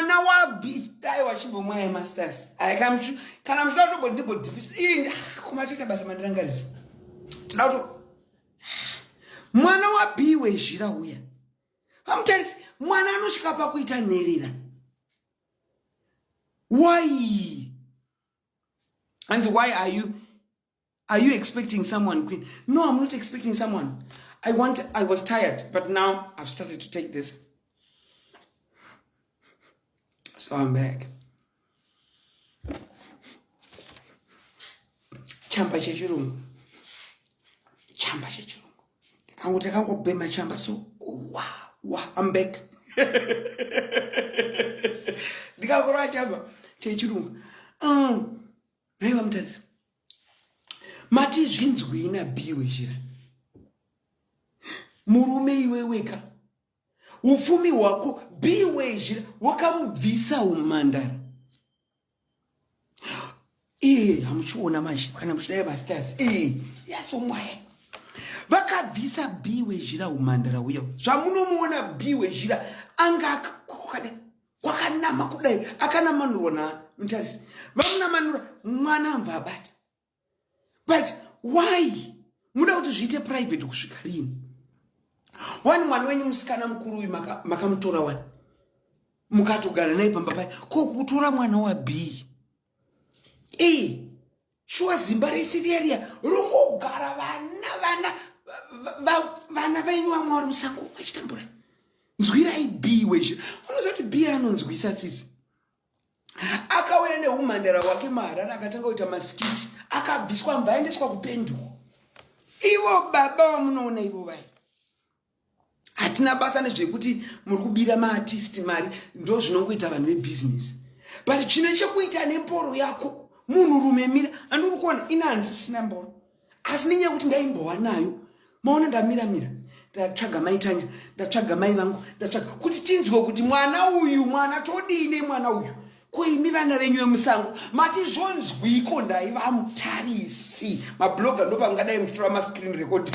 mwana wabistai wachibomwa yemasters aya kana muchida kutoboti ndibodhipisa ii kuma toita basa mandirangarisa tida kuto mwana wabii wezhira uya vamutarisi mwana anosvika pakuita nherera why hanzi why are you are you expecting someone queen no i'm not expecting someone i want i was tired but now i've started to take this so i'm back chamba chechirungu chamba chechirungu kangu takangobhema chamba so wa wa i'm back ndikakurwa chamba chechirungu um, Haiwa mutadzi. Mati zvinzwei na B wezhira. Murume iwe weka. Upfumi hwako B wezhira wakamubvisa umandara. Ee hamuchiona manje kana muchidai masters. Ee yasomwaya. Vakabvisa B wezhira umandara uya. Zvamunomuona B wezhira anga akakukada. kwakanama kudai akanamanurwa na mutarisi vamunamanura mwana amva abata but why muda kuti zviite private kusvika rini wani mwana wenyu musikana mukuru uyu makamutora maka wani mukatogara naye pamba paye ko kutora mwana wabii e shuwa zimba rese riya riya rongogara vana vana vana vainyu vamwe vari musango vachitambura nzwirai b wezvo unoziva kuti b anonzwisa tsitsi akauya neumhandara wake maharara akatanga kuita masikiti akabviswa mvaendeswa kupenduko ivo baba vamunoona ivo vai hatina basa nezvekuti muri kubira maartist mari ndo zvinongoita vanhu vebhizinesi but chine chekuita nemboro yako munhu rume mira andiri kuona ina handisisina mboro asi nenyaya yekuti ndaimbova nayo maona ndamira mira ndatsvaga mai tanya ndatsvaga mai vangu ndatsvaga kuti tinzwe kuti mwana uyu mwana todii nemwana uyu ko imi vana venyu vemusango mati zvonzwiko ndai vamutarisi mabloga ndopangadai muchitora mascreen record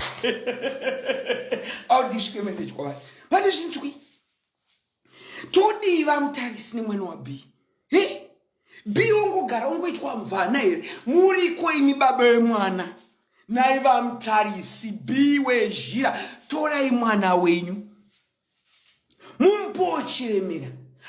audisvike message kwavari mati zvinzwi todii vamutarisi nemwene wab he bi ongogara ongoitwa mvana here muriko imi baba vemwana nai vamutarisi bi wezhira torai mwana wenyu mumbochiremera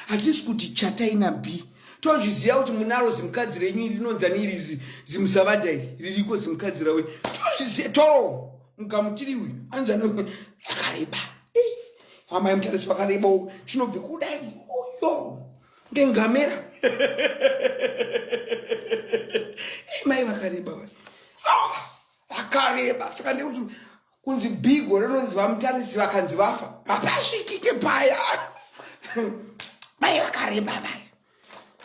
hatisi kuti chatai na b tozviziva kuti munaro zimukadzi renyu iri rinonzi ani iri zimusavada iri ririko zimukadzi rawe tozviziva toro mugamutiri uyu anzi ano akareba amai mutarisi vakareba u chinobvi kudai uyo ngengamera mai vakareba akareba saka ndekuti kunzi bigo rinonzi vamutarisi vakanzi vafa hapasvikike paya mai vakareba vaya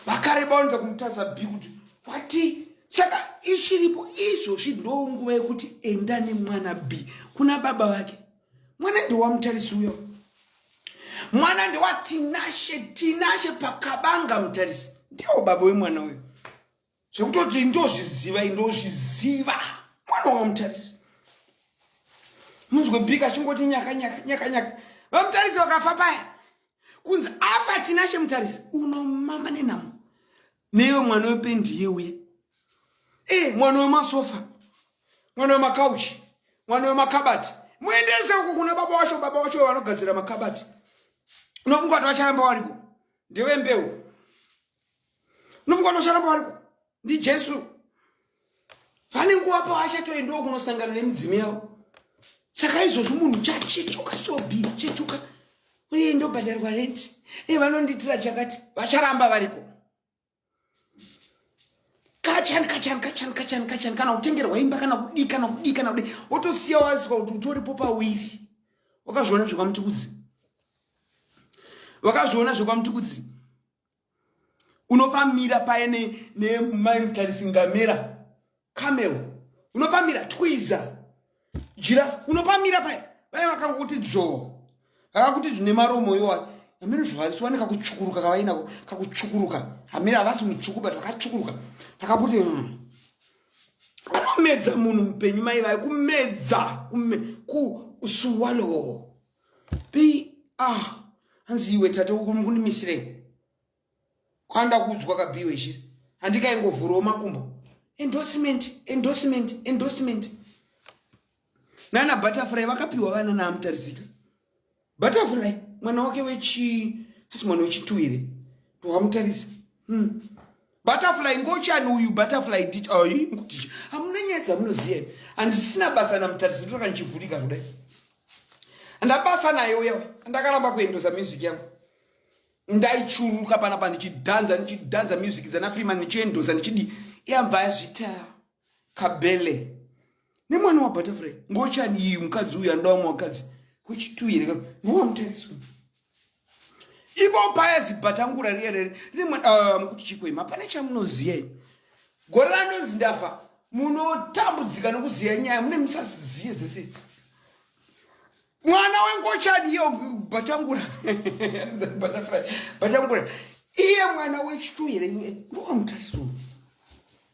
vakareba vanoita kumutarisa bhi kuti wati saka ichiripo izvozvi ndo nguva yekuti enda nemwana bhi kuna baba vake mwana ndewamutarisi uyo mwana ndewatinashe tinashe pakabanga mutarisi ndiwo baba wemwana uyo zvekutoti ndozviziva indozviziva mwana wamutarisi munzwe bika achingoti nyaka nyaka nyaka nyaka vamutarisi vakafa paya kunzi afa tinashe mutarisi unomama nenhamo neyo mwana wependi yeuye e eh, mwana wemasofa mwana wemakauchi mwana wemakabati muendese uko kuna baba wacho baba wacho vanogadzira makabati unofunga kuti vacharamba variko ndewembeu unofunga unocharamba variko ndijesu vane nguva pavachatoendawo kunosangana nemidzimu yavo saka izvozvo munhu chachechuka sobi chechuka uye ndobhadharwa renti e vanondiitira chakati vacharamba variko kachani kachani kachani kachani kachani kana kutengerwa imba kana kudii kana kudii kana kudii wotosiya wazika kuti utoripo pawiri wakazviona zvekwamutikudzi wakazviona zvekwamutikudzi unopamira paye nemai ne, mutarisi ngamera camel unopamira twiza jirafu unopamira paye vaye vakangokuti dzvoo vakakuti zvine maromo iwayo hameno zvavaisiwa nekakutsvukuruka kavainako kakutsvukuruka hameno havasi mutsvuku but vakatsvukuruka vakakuti mm. anomedza munhu mupenyu mai vaye kumedza kume, ku swallow pi ah hanzi iwe tate ukunimisirei kwanda kuudzwa kabiwe chiri handikaingovhurawo makumbo endorsement endorsement endorsement nana butterfly vakapiwa vana naamutarisika butterfly mwana wake wechi asi mwana wechituwire ndowamutarisa hmm. butterfly ngochani uyu butterfly teacher oh, iri ngoteacher hamuna nyaya dzamunoziva imi handisina basa namutarisi ndotaka ndichivhurika kudai ndabasa naye uya ndakaramba kuendosa music yangu ndaichuruka panapa ndichidhanza ndichidhanza music dzana freeman ndichiendosa ndichidi yamva yazvitawo kabele nemwana wabutterfly ngochani iyi mukadzi uyu anoda vamwe vakadzi wechitu here ka ngowamutariswa ipo paya zibhatangura riye rere rine mwana ah, mukuti chikwei mapana chamunoziva i gore ranonzi ndafa munotambudzika nokuziva nyaya mune musaziziye dzese mwana wengochani iyo bhatangura bhatangura iye mwana wechitu here iwe ngowamutariswa